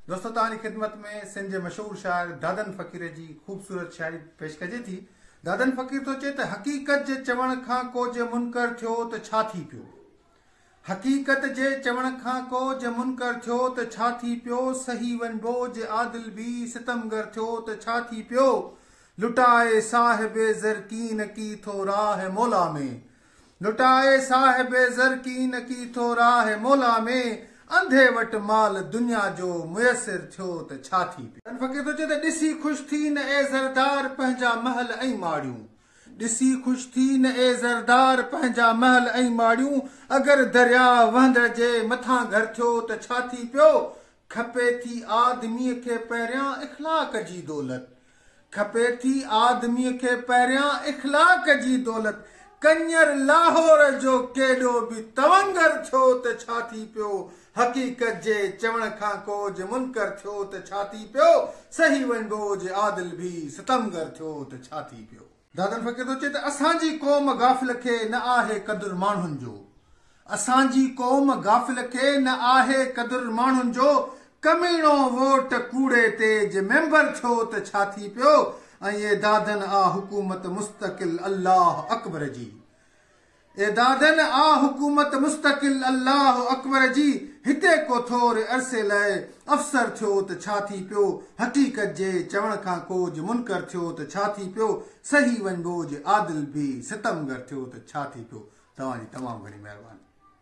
دوستو توهان جي خدمت ۾ سنڌ جي مشهور شاعر دادن فقير جي خوبصورت شاعري پيش ڪجي ٿي. دادن فقير ٿو چئي ته حقيقت جي چوڻ کان ڪو جي منڪر ٿيو ته ڇا ٿي پيو؟ حقيقت جي چوڻ کان ڪو جي منڪر ٿيو ته ڇا ٿي پيو؟ سهي وڃبو جي عادل به ستمگر ٿيو ته ڇا ٿي پيو؟ لٽائي صاحب زرڪين ڪي ٿو راهه مولا ۾. لٽائي صاحب زرقين ڪي ٿو راه مولا ۾، انڌي وٽ مال دنيا جو ميسر ٿيو ته ڇا ٿي پيو. تن فقير ٿو چئي ته ڏسي خوش ٿي نه اي زردار پنهنجا محل ۽ ماڙيون، ڏسي خوش ٿي نه اي زردار پنهنجا محل ۽ ماڙيون، اگر درياهه وهندڙ جي مٿان گهر ٿيو ته ڇا ٿي پيو، کپي ٿي آدميء کي پهريان اخلاق جي دولت، کپي ٿي آدميء کي پهريان اخلاق جي دولت. ڪڃر لاهور جو ڪيڏو به تونگر ٿيو ته ڇا ٿي پيو؟ حقيقت جي چوڻ کان ڪو جي منڪر ٿيو ته ڇا ٿي پيو؟ سهي وڃبو جي عادل به ستمگر ٿيو ته ڇا ٿي پيو؟ دادن فقير ٿو چئي ته اسان جي قوم غافل کي نه آهي قدر ماڻهن جو اسان جي قوم غافل کي نه آهي قدر ماڻهن جو ڪميڻو ووٽ ڪوڙي تي جي ميمبر ٿيو ته ڇا ٿي پيو ۽ اي دادن آ حڪومت مستقل الله اڪبر جي اعدادن آ حڪومت مستقل الله اڪبر جي هتي ڪو ٿور عرصي لاء افسر ٿيو ته ڇا ٿي پيو حقيقت جي چوڻ کان ڪوج منڪر ٿيو ته ڇا ٿي پيو صحيح ونبوج عادل ڀي ستمگر ٿيو ته ڇا ٿي پيو توهان جي تمام گهڻي مهرباني.